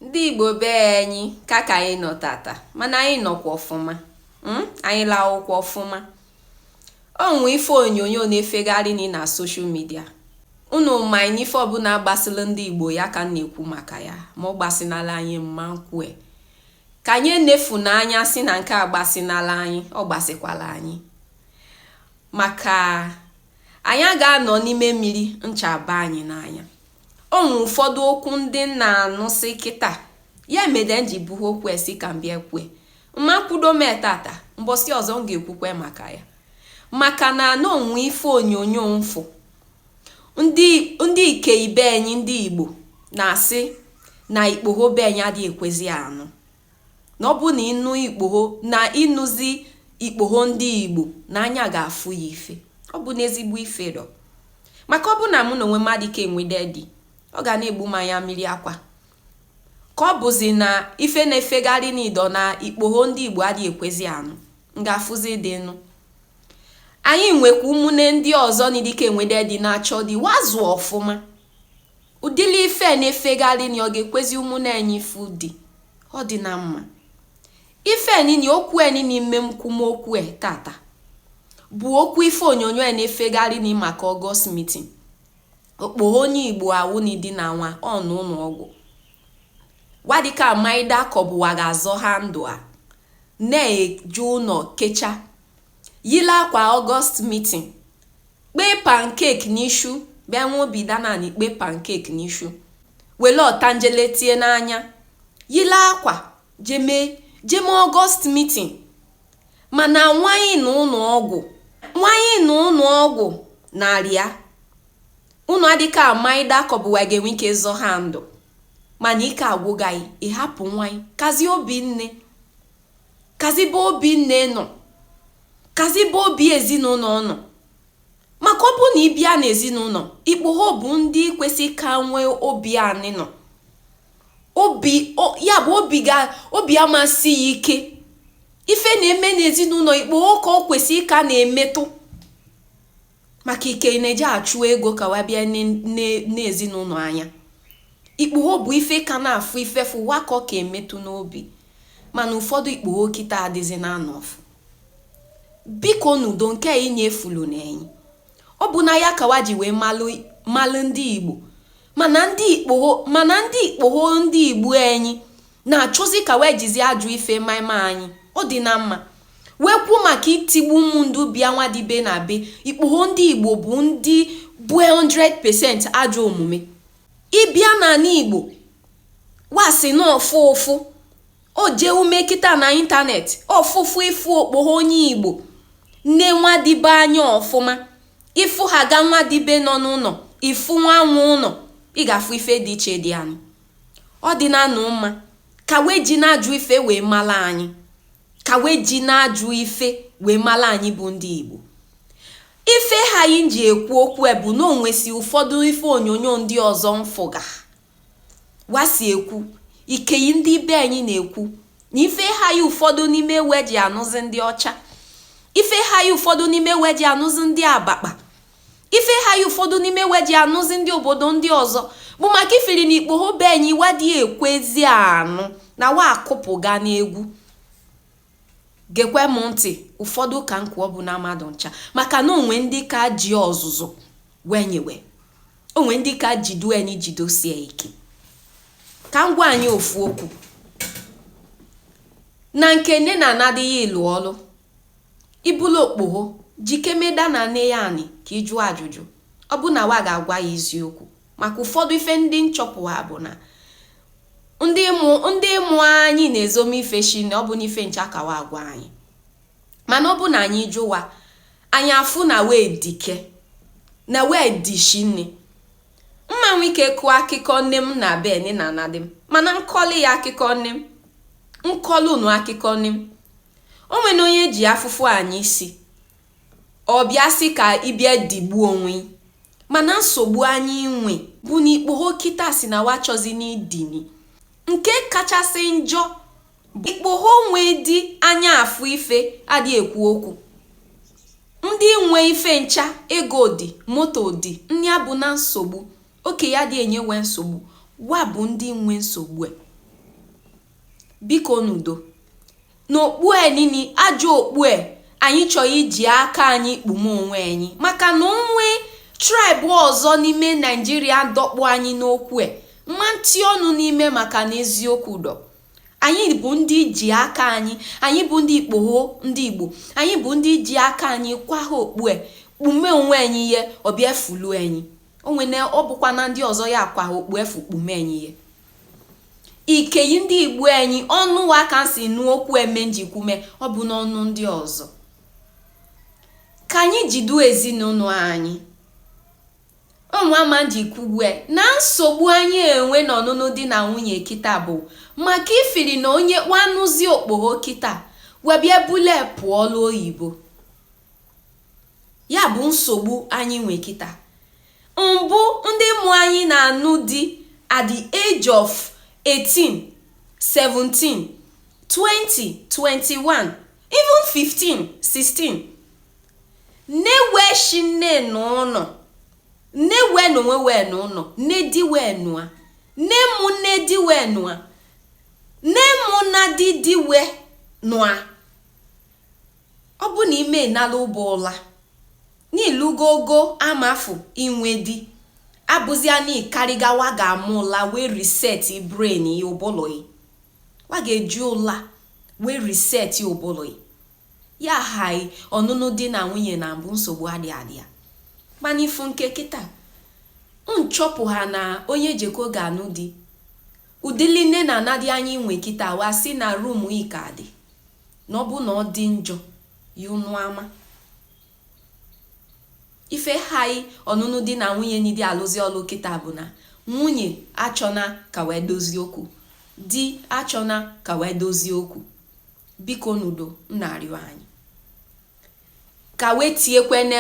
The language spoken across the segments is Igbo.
Ndị Igbo be anyị ka ka anyị nọ tata mana anyị nọkwa ọfụma hmm? anyị lahụkwa ọfụma o nwe ife onyonyo na-efegharị ni na social media unu ma na ife ọbụla gbasịrị ndị Igbo ya ka m na-ekwu maka ya ma ọ gbasinala anyị mma m kwue ka anyị nefuna anya si na nke a agbasinala anyị ọ gbasikwala anyị maka anyị aga-anọ n'ime mmiri ncha abaa anyị n'anya O nwere ụfọdụ okwu ndị m na-anụsị kịta. Ya mede m ji buha okwu e sị ka m bịa kwue. Mma kwudo m e tata, mbọsị ọzọ m ga-ekwukwe maka ya. Maka na na o nwe ife onyonyo m fụ. Ndị ndị ikei be anyị ndị Igbo na-asị na ikpoho be anyị adịghị ekwezi anụ. na ọ bụrụ na ị nụ ikpogho na ị nụzi ikpogho ndị Igbo na anya ga-afụha ife ọ bụna ezigbo ife dọ maka ọ bụ na mụ na onwe m adị ike enwede di ọ ga na-egbu m anya mmiri akwa ka ọ bụzi na ife na-efegharị ni dọ na ikpogho ndị Igbo adịghị ekwezi anụ m ga-afụzi di nụ anyị nwekwa ụmụnne ndị ọzọ ni dị ike enwede di na-achọ di wa zụ ọfụma Ụdịrị ife a na-efegharị ni ọ ga-ekwezi ụmụnne anyị fụ di ọ dịna mma. Ife a nini okwu a nini mme m kwu m okwu a tata bụ okwu ife onyonyo a na-efegharị ni maka August meeting. Okpogho onye Igbo awụ ni di na nwa nọ n'ụlọ ọgwụ. Wa adịka amaida ka ọ bụ wa ga-azọha ndụ a na-eje ụlọ kecha yile akwa August meeting Kpee pancake n'ishu bịa nwa obi danani kpee pancake n'ishu wele ọtanjele tie n'anya yile akwa jeme jeme August meeting mana nwa ị nọ n'ụlọ ọgwụ nwa ị nọ n'ụlọ ọgwụ na-arịa unu adịka amaida ka ọ bụ wa ga-enwe ike zọha ndụ mana ike agwụgaghị ịhapụ nwa ị kazi obi nne kazi ebe obi nne nọ kazi ebe obi ezinụlọ nọ maka ọ bụ na ị bịa n'ezinụlọ ikpogho bụ ndị kwesị ka nwee obi anị nọ obi ya bụ obi ga obi amasị ya ike ife na-eme n'ezinụlọ ikpogho ka ọ kwesị ka na-emetụ maka ikei na-eji achụ ego ka wa bịa ne ezinụlọ anya ikpugho bụ ife ka na-afụ ife fụ wa ka ọ ka emetụ n'obi mana ụfọdụ ikpugho kịta adịzi na anọfụ biko n'udo nke a inye efulu na enyi ọ bụ na ya ka wa ji wee malụ ndị igbo mana ndị ikpogho ndị igbo enyi na-achọzi ka wee jizie ajụ ife maịma anyị ọ dị na mma wee kwuo maka itigbu ụmụ ndị ọbịa wa dibe na be ikpogho ndị igbo bụ ndị bụ 100% ajọ omume ịbịa n'anị igbo wa sị na ọ fụ ụfụ o jee ume kịta na ịntanetị ọ fụ ụfụ ịfụ okpogho onye igbo nee nwa dịbe anya ọfụma ịfụ ha ga nwa dịbe nọ n'ụnọ ịfụ nwa nwe ụnọ ị ga-afụ ife dị iche dị anụ ọ dị na anụ mma ka wee ji na-ajụ ife wee mala anyị ka wee ji na-ajụ ife wee mala anyị bụ ndị igbo ife ha anyị ji ekwu okwu e bụ na o nwesi ụfọdụ ife onyonyo ndị ọzọ m fụga wa si ekwu ikeyi ndị be anyị na-ekwu na ife ha anyị ụfọdụ n'ime we ji anụzi ndị ọcha ife ha anyị ụfọdụ n'ime we ji anụzi ndị abakpa Ife ha ya ụfọdụ n'ime we ji anụzi ndị obodo ndị ọzọ bụ maka ifiri na ikpogho be anyị wa adị ekwezi anụ na wa akụpụga n'egwu gekwe m ntị ụfọdụ ka m kwu ọ bụ na mmadụ ncha maka na o nwe ndị ka ji ọzụzụ we nye we o nwe ndị ka jido anyị jidosie ike ka m gwa anyị ofu okwu na nke nne na nna di ịlụ ọlụ Ị bụlụ okpogho, jikeme da n'anị ya anị ka i jụọ ajụjụ. Ọ bụ na wa ga-agwa ya eziokwu? Maka ụfọdụ ife ndị m chọpụ ha bụ na ndị mụ anyị na-ezomi ife shi na ọ bụ n'ife ncha ka wa agwa anyị. Mana ọ bụ na anyị jụwa, anyị afụ na wa edike, na wa edishi nne. M ma nwe ike kọọ akụkọ nne m na be nne na nna di m, mana m kọlị akụkọ nne m, m kọlụ unu akụkọ nne m. O nwene onye ji afụfụ anya isi ọ bịa sị ka ị bịa digbuo onwe gị. mana nsogbu anyị nwe bụ na ikpogho kịta si na wa achọzi n'idini nke kachasị njọ bụ ikpogho nwe di anya afụ ife adị ekwu okwu ndị nwe ife ncha ego dị moto dị ndị a bụ na nsogbu okeyi adị enye we nsogbu wa bụ ndị nwe nsogbu e. Biko n'udo. N'okpu e nini, ajọ okpu e, anyị chọrọ iji aka anyị kpume onwe anyị maka na o nwe tribe ọzọ n'ime Nigeria dọkpụ anyị n'okwu e, m ma nti ọnụ n'ime maka na eziokwu dọ. Anyị bụ ndị ji aka anyị, anyị bụ ndị ikpogho, ndị Igbo, anyị bụ ndị ji aka anyị kwaha okpu e, kpume onwe anyị ihe, ọ bịa fulu anyị. O nwene ọ bụkwa na ndị ọzọ ya akwaha okpu efu kpume anyị ihe. ikeyi ndị igbo anyị ọnụ wa ka si nụ okwu eme njikwume ọ bụ n'ọnụ ndị ọzọ ka anyị jidu ezinụlọ anyị ọnwama ji kwuwe na nsogbu anyị enwe n'ọnụnụ di na nwunye kịta bụ maka ifiri na onye kwanụzi okpogho kịta webịa bule pụọ ọlụ oyibo Ya bụ nsogbu anyị nwe kịta. Mbụ ndị mụ anyị na-anụ di at the age of 18, 17, 20, 21, even 15, 16. Newe shi nne n'ụlọ, newe n'onwe wee n'ụlọ, nne di wee nụa, nne mụ nne di wee nụa, nne mụ na di di wee nụa. Ọ bụ na ime nala ụbọ ụla, na i lugo ogo amafụ inwe di, abụzia na ị karịga wa ga-ama ụla wee reset brain ya ụbụlụ ya. Wa ga-eji ụla wee reset ụbụlụ ya. Ya haị ọnụnụ di na nwunye na mbụ nsogbu adị adị ya. Mana ị fụ nke kịta, m chọpụha na onye jeko ga-anụ di. Ụdịlị nne na nna ndị anyị nwe kịta wa sị na room ị ka dị. na ọ bụ na ọ dị njọ ya unu ama ife hai ọnụnụ di na nwunye n'idi alụzi ọlụ kịta bụ na nwunye achọna ka wee dozie okwu di achọna ka wee dozie okwu bikonụ doo m na-arịọ anyị ka wee tiekwene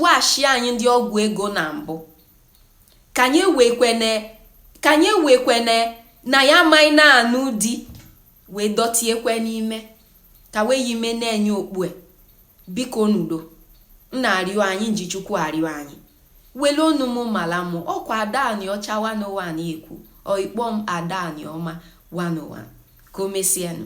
washi anyị ndị ọgwụ ego na mbụ ka anyị ewekwene na ya amaghị na-anụ di wee dọtiekwe n'ime ka wee yi ime na-enye okpue bikonụ doo m na-arịọ anyị m ji chukwu arịọ anyị wele ọnụ m mala mụ ọ kwa adaani ọcha 101 ekwu or ị kpọ m adaani ọma 101 ka o mesienụ